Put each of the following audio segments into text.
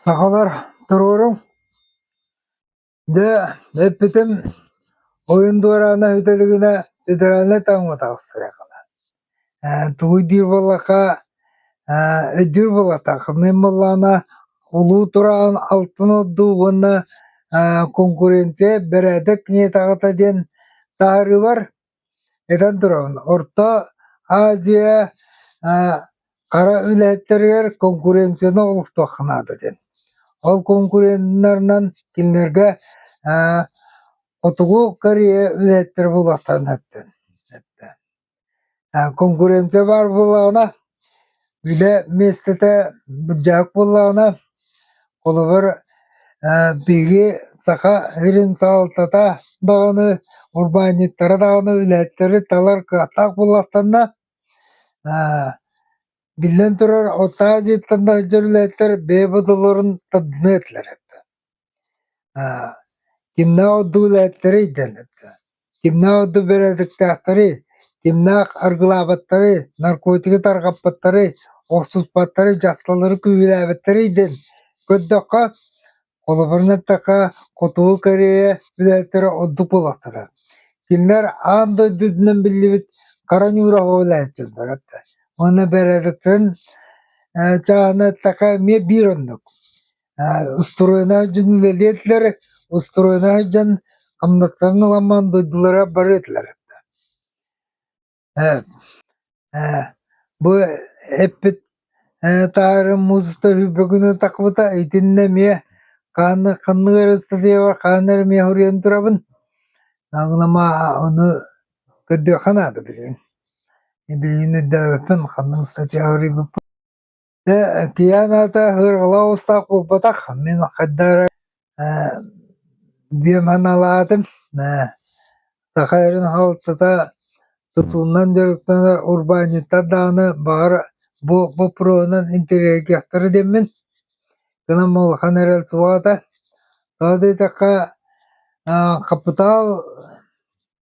Сахалар туруоруҥ Дьэ, эппитим ойун дуораана үтэлигинэ федеральнай таҥҥа таҕыстарыаххына Тугуй диир буоллахха өйдүүр буоллахтааххытынай буоллаҕына улуу тураҕын алтын ордуу уонна конкуренция бэрээдэк киһиэтэҕитэ диэн таһаарыылар этэн турабын Орто Азия хара үлэһиттэригэр конкуренцияны олохтуохха наада диэн ол конкуреннарынан кинилэргэ хотугу Корея үлэһиттэрэ буолуохтарын сөптөөх Конкуренция баар буоллаҕына, үлэ миэстэтэ былдьаһык буоллаҕына, холобур, биһиги саха сирин салалтата даҕаны, урбаанньыттара даҕаны, үлэһиттэри талар кыахтаах буоллахтарына, биллэн турар, оттооҕу дьиэттэн да сылдьар үлэһиттэр бэйэ бодолорун тардыныа этилэр эбит да. Кимнээх орду билээттэрий диэн этэ. Кимнээх орду бэрээдэктээхтэрий, кимнээх аргылаабыттарый, наркотигы тарҕаппыттарый, охсуспаттарый, дьахталлары күүһүлээбиттэрий диэн көрдөххө, холобурун эттэххэ, Хотугу Корея билээттэрэ ордук буолахтара. Кинилэр аан дойду үрдүнэн биллибит Хара Ньуураҕа билээччилэр этэ. Уонна бэрээдэктэрин чааһына эттэххэ, эмиэ биир оннук. устуруойнаах дьон үлэлиэтилэр, устуруойнаах дьон хамнастарын ыламман дойдулара бары этилэр Бу эппит таһаарым музыста бүгүнү тахбыта итиннэ эмиэ хаанны ханнык эрэ статьябар хаана эрэ эмиэ суруйан турабын ама ону көрдүөххэ наада билигин билигин өйдөөбөппүн ханнык статья суруйбуппун Дьэ, Тианата сыарҕалаах устаах буолбатах, мин хайда эрэ ээ диэн аналаатым, ээ саха сирин халтыта тутуунан дьарыктанар урбаанньыттар даҕаны баҕар бу боппуруоһунан интэриэһиргиэхтэрэ диэммин, гынан улахан эрэл суоҕа этэ. Тоҕо да диэтэххэ, аа хапытаал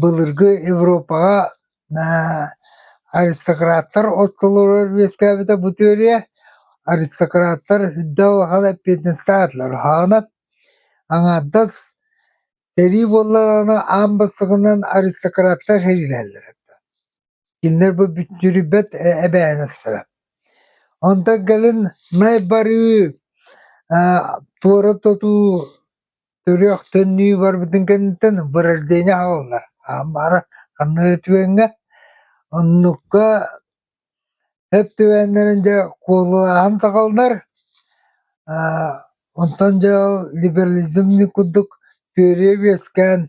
Былыргы Европаҕа аристократтар оччолорор үөскээбитэ бу теория аристократтар үрдэ улахан эппиэтинэстээх этилэр үһаҕынан аҥаардас сэрии буоллаҕына аан бастакынан аристократтар сэриилэһэллэрэ кинилэр бу бүттүрүйбэт эбээһинэстэрэ онтон кэлин Най барыы туора тутуу Төрүөх төннүү барбытын кэнниттэн бырождение аһаллылар. Аан баара ханнык түгэҥҥэ оннукка эп түбээннэрин дьэ куолулааһын саҕаланар. Аа онтон дьаал либерализмный курдук түөрүйэ үөскээн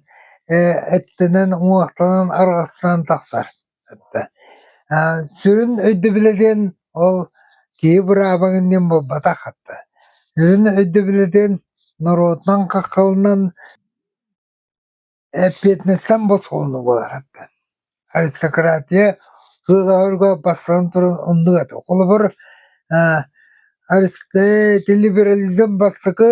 э эттэнэн уҥуохтанан арҕастаан тахсар. Сүрүн өйдөбүлэ диэн ол киһи быраабаҥын диэн буолбатах. Сүрүн өйдөбүлэ диэн норуотунан хаххаланан эппиэтинэстэн босхолонуу буолара. Аристократия сыалаһарга бастатан туран оннук этэ. Холобур, либерализм бастакы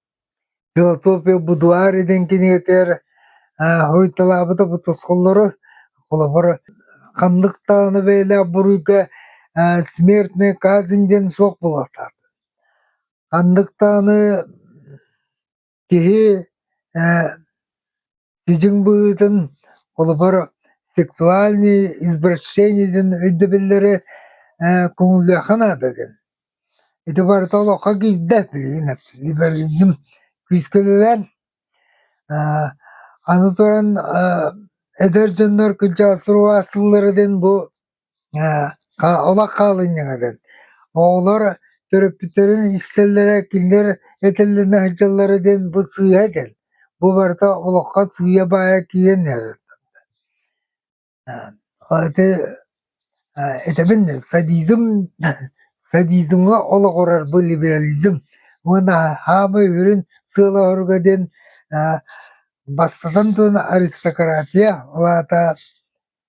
Философия будуар диэн кинигэтигэр ааһыйталаабыта бу тосхоллору, холобур, ханнык даҕаны бэйэлээх буруйга смертная казнь диэн суох буолуохтаах. Ханнык даҕаны киһи Сидьиҥ быһыытын, холобур, сексуальнай извращениедын өйдөбүллэри э, көҥүллүөххэ наада диэн. Ити барыта олоххо киирдэ, билигин либерализм күүскэ үлэлээн, э, аны туран э, эдэр дьоннор күнчэҕэ сурук астыллара диэн бу Ээ, олох хаалынньаҥа дэн. Оҕолор төрөппүттэрин искэллэрэ кинилэр этэллэринэ сылдьаллара диэн бу сыыһа дэн. Бу барыта олоххо сыыйа баайа киирэн иһэрэ. Ити этэбин да садизм садизмҥа олоҕурарбы либерализм уонна хаамыы үрүн сыалаһарга диэн бастатан туран аристократия, ол аата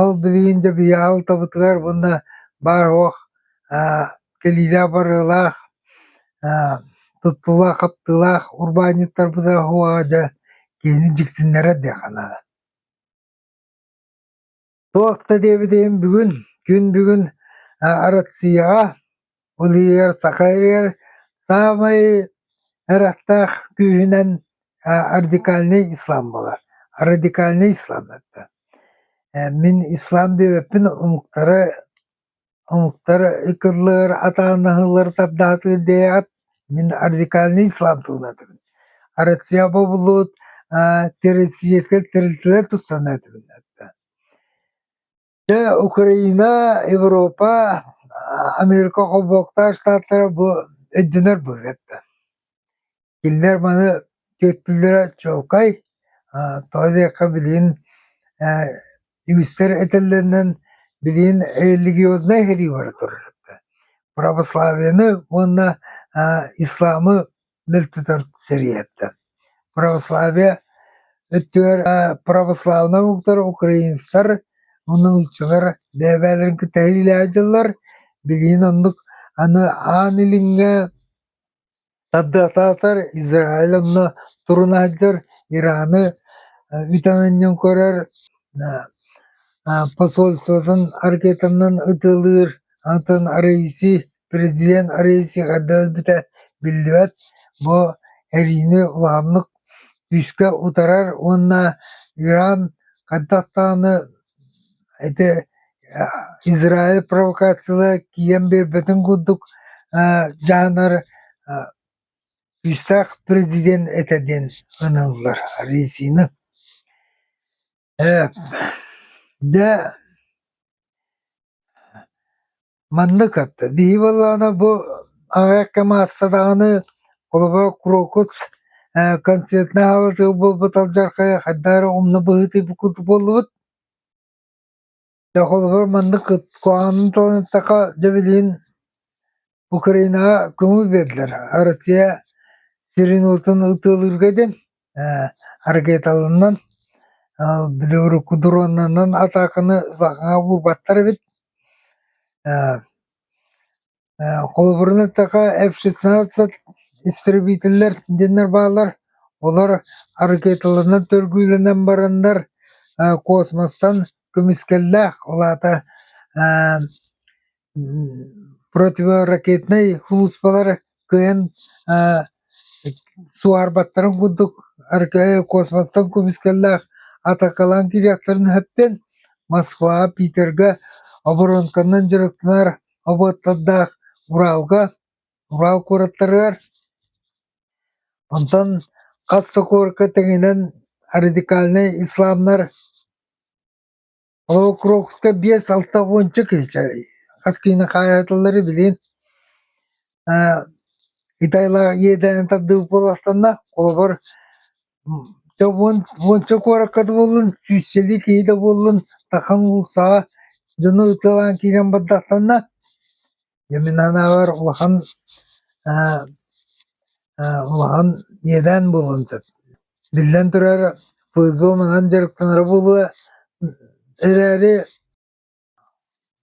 Ол билигин дьабыйаал тобутугар уонна баар-суох кэлиилээх барыылаах туттуулаах-хаптыылаах урбаанньыттарбыта суоҕа дьэ киһини дьиксиннэрэр диэххэ наада туох да диэбитим бүгүн күн бүгүн Арассыыйаҕа Ол иһигэр саха иһигэр саамай эр аттаах күүһүнэн радикальнай ислам буолар. Радикальнай ислам это. Мин ислам диэбиппин омуктары омуктары ыкыллыыр, атаанаһыллар тардаатыыр диэри ат мин радикальнай ислам туһунан этэбин. Россия бобуллубут террористическай тэрилтэлэр тустарынан этэбин. Дьэ, Украина, Европа, Америка холбооктаах штаттара бу өйдөнөр быһыыттан. Кинилэр маны түөттүллэрэ чуолкай. Тоҕо диэххэ билигин үгүстэр этэллэринэн билигин религиознай сэрии бара турар. Православияны уонна исламы Бил тутар сэрийэттэн. Православие өттүгэр православнай омуктар, украинецтар, муннулуччулар бэйэ-бэйэлэрин кытта иилэһэ дьыллар. Билигин оннук аны аан илиҥҥэ тардытатар Израиль онно турун аһдьар, Ираны үтэн анньан көрөр, посольствотын аркетанан ытылыыр, атын арыйси Президент Аресиха өлбүтэ биллибэт, бу эриини улааннык күүскэ утарар уонна Иран хантан ити Израиль провокациялара киирэн биэрбэтин курдук дьаһанар күүстээх президент этэ диэн аналлар Аресины. Ээ, дьэ, маннык этэ, биһиги буоллаҕына бу аҕыйахха мааста даҕаны холобура Крокус э, концертнай аһаабатыгар буолбут алдьархайа хайдах эрэ умна быһыытыы бу курдук буоллубут. Дьэ холобур маннык куһаҕанын туоратахха дьэ билигин Украинаҕа көҥүл биэрдилэр Россия сирин уотун ытыалыырга диэн ээ ракеталарынан белоруку дроннарынан атааканы саҕаҕа буурбаттар эбит ээ холобурунан такка эф шестнадцать истребителлэр диэннэр бааллар олор аракеталарынан төргүүлэнэн бараннар космостан көмүскэллээх ол аата противоракетнай сулууспалар кыайан суоһарбаттарын курдук космостан көмүскэллээх атакалаан киириэхтэрин өһүттэн москваҕа питергэ оборонканнан дьарыктанар обуоттардаах Уралга, Урал куораттарыгар, онтон хас сокуорка тэҥинэн радикальнай исламнар Холобукровска биэс алта уонча киһичэ хас киһини хаайаталлары билин Китайлаах иэдээнин тардыбыт буоластанна, холобур Дьэ уон уонча куоракка да буоллун, сүүсчэлии киһи да буоллун, Саха уулуссаҕа дьону ытыалаан киирэн бардахтанна. Дьэ мин анаабар улахан аа аа улахан иэдээн буолуон сөп. Биллэн турар, ПЗО маҥан дьарыктанара буолуо эрээри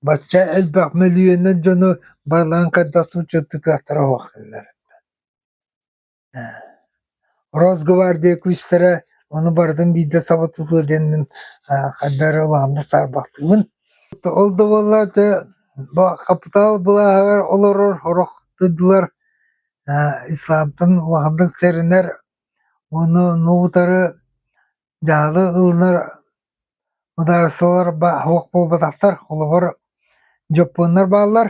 бачча элбэх мөлүйүөннэн дьону барыларын хайдах учуоттуу кыахтара суохтанар. Росгвардия күүстэрэ ону барытын биирдэ саbatытыа диэн мин хайда эрэ улааннык саарбахтыыбын. Ол да буоллар дьэ хапытаал былааһыгар олорор орох дойдулар исламтан улаханнык сэрэнэр уону ну утары дьаалы ылынар мыдаарыстыбалар суох буолбатахтар холобур дьоппуоннар бааллар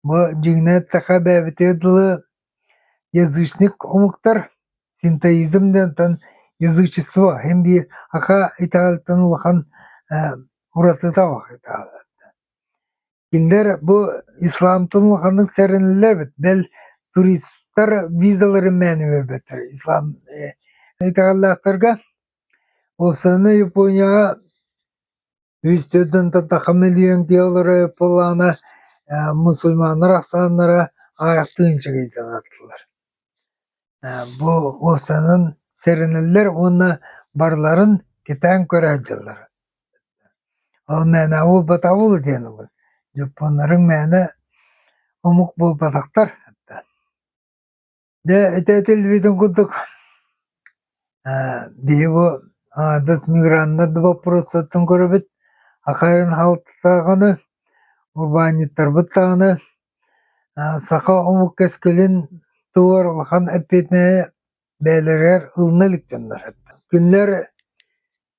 Бу дьиҥинэн эттэххэ эбэбитигэр дылы язычник омуктар синтоизм диэнтэн язычество иһин дии аха итэҕэлтэн улахан ээ уратыта бах итэҕэллэрэ. Кинилэр бу исламтан улаханнык сэрэнэллэр эбит. Бэл туристтар визаларын мээнэ биэрбэттэр ислам э итэҕэллээхтэргэ. Уопсаннай Японияҕа Үстүөттэн таттахха миллион диаллары ыллаана э, мусульманнар ахсааннара аҕыйахтыы инчэгэйдэн аттылар. Э, бу уопсанан сэрэнэллэр уонна барларын кэтээн көрөөт дьыллар. Ол мээнэ буолбата ол диэн ол дьоппуоннарың мээнэ омук буолбатахтар Дьэ, ити телевиден курдук биһи бу аҥаардас миграннар да боппуруостартан көрөбүт хахайын халтытааҕыны, урбаанньыттарбыт даҕаны саха омук кэскилин туһугар улахан эппиэтинэһи бэйэлэригэр ылына илик дьоннор Кинилэр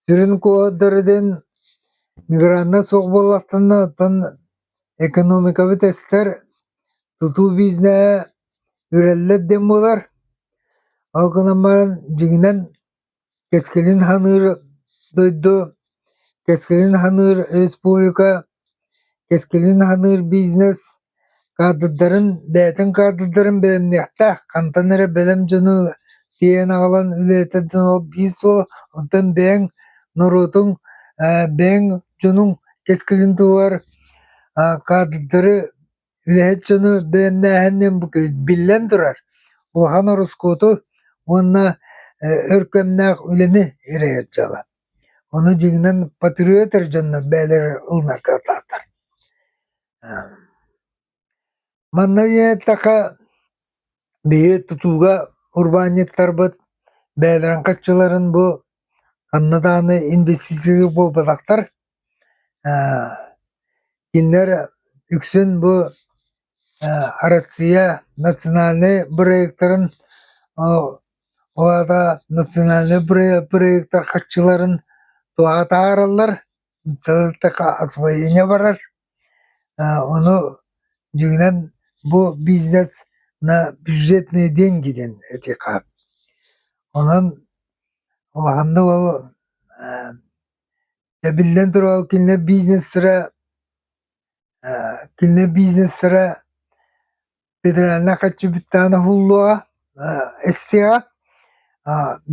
сүрүн куоһурдара диэн миграннар суох буоллахтарына, оттон экономикабыт эстэр, тутуу бизнеһэ Үрэллэр диэн буолар, ол гынан баран дьиҥинэн кэскилин саныыр дойду, кэскилин саныыр республика, кэскилин саныыр бизнес каадырдарын, бэйэтин каадырдарын бэлэмниэхтээх, хантан эрэ бэлэм дьону тиэйэн аҕалан үлэлэтэрдэн ол биир суол, онтон бэйэҥ норуотуҥ, бэйэҥ дьонуҥ кэскилин туһугар каадырдары Үлэһит дьону дээннээһинин бу биллэн турар, улахан ороскуоту уонна өркөннөөх үлэни эрэйэр дьыала. Ону дьиҥинэн патриоттар дьонно бэйэлэрэ ылынарга атаатар. Манна диэттэхэ, биһи тутууга урбаанньыттарбыт бэйэлэрин хаччыларын бу ханна даҕаны инвестиция буолбатахтар Кинилэр үксүн бу Арассыыйа национальнай бырайыактарын, ол аата национальнай бырайыактар харчыларын атаараллар, освоение барар. Ону дьиҥинэн бу бизнес на бюджетные деньги диэн этиэхэ сөп. Онон улаханнык ол Эбиллэн турар кинилэр бизнестэрэ кинилэр бизнестэрэ федеральнай хаччыбыттаан оһуллуоҕа эстиэҕэ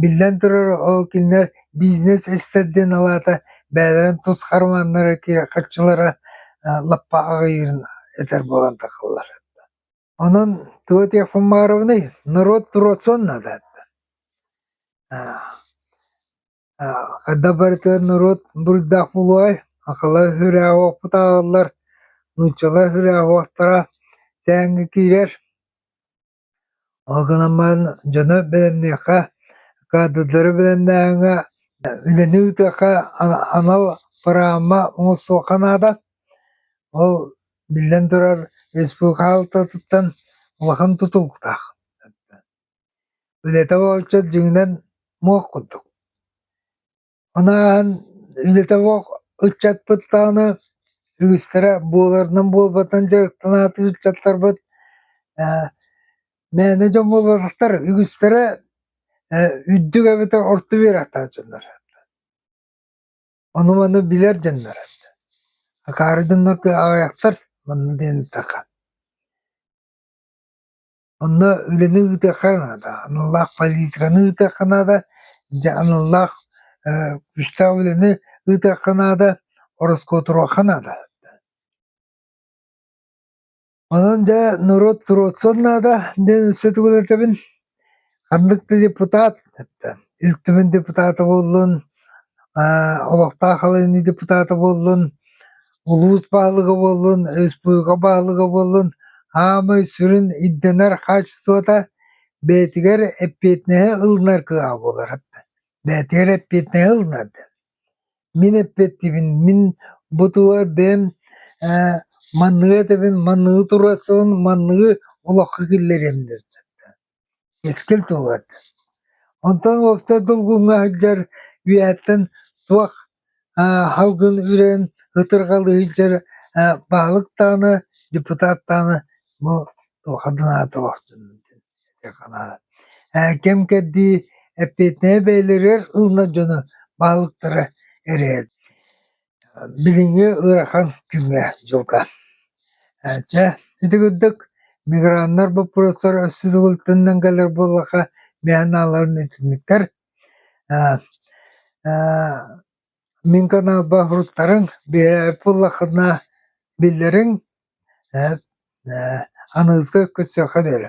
биллэн турар ол кинилэр бизнес эстэр диэн алаата бэйэлэрин тус хармааннара хаччылара лаппа аҕыйыырын этэр буолан тахаллар онон туох этиэх Фумаровыный норуот туруорсуон наада Хайдах барыта норуот буруйдаах буолуой, акыла үһүрээҕи уоппут ааҕыллар, нууччалар үһүрээҕи уохтара сээҥҥэ киирэр. Ол гынан баран дьону бэлэмниэххэ, каадырдары бэлэмнээһиҥҥэ, үлэни ыытыахха анал бырааһынма оҥостуохха наада. Ол биллэн турар, республика хаалтатыттан улахан тутулуктаах. Үлэтэ уолдьа дьиҥинэн муох курдук. Ону ааһан үлэтэ муох ыччатпыт даҕаны үгүстэрэ буоларынан буолбатан дьарыктанаатын ыччаттарбыт ээ мээнэ дьон буолбатахтар үгүстэрэ ээ үрдүк эбэтэр орто үөрэхтээх дьоннор. Ону-маны билэр дьоннор. Акаары дьоннор аҕыйахтар манна диэн эттэххэ. Онно үлэни ыытыахха наада, аналлаах политиканы ыытыахха наада, дьэ аналлаах э, күүстээх үлэни ыытыахха наада, ороскуотуруохха наада. Онон дьэ норуот туруорсуон наада диэн өссө тугу да этэбин. Ханнык да депутат, Ил Түмэн депутата буоллун, олохтоох халыҥныы депутата буоллун, Улуус баһылыга буоллун, республика баһылыга буоллун аамай сүрүн ирдэнэр хаачыстыбата бэйэтигэр эппиэтинэһи ылынар кыаҕа буолар. Бэйэтигэр эппиэтинэһи ылынар диэн. Мин эппиэттиибин, мин бу туһугар бэйэм э, манныгы этэбин, манныгы туруорсабын, манныгы олоххо киллэриэм диэн. Кэскил туһугар. Онтон уопсай долгуҥҥа сылдьар үйэттэн туох аа, салгын үрэн, ытырҕалыы сылдьар аа, баһылыктааны, депутаттааны бу туоха дынааталах Ээ, кэм-кэрдии эппиэтинэһи бэйэлэригэр ылынар дьоно баһылыктара эрэйэр. Билиҥҥи ыарахан күҥҥэ дьылга. Чэ, ити курдук миграннар боппуруостара өссө субулутунан кэлэр буоллахха бэйэ аналларын итинниктэр. Аа аа мин каналба фруктарыҥ биэрээт буоллаххына биллэриҥ ээ ээ аныгыска көтсүөххэ диэри.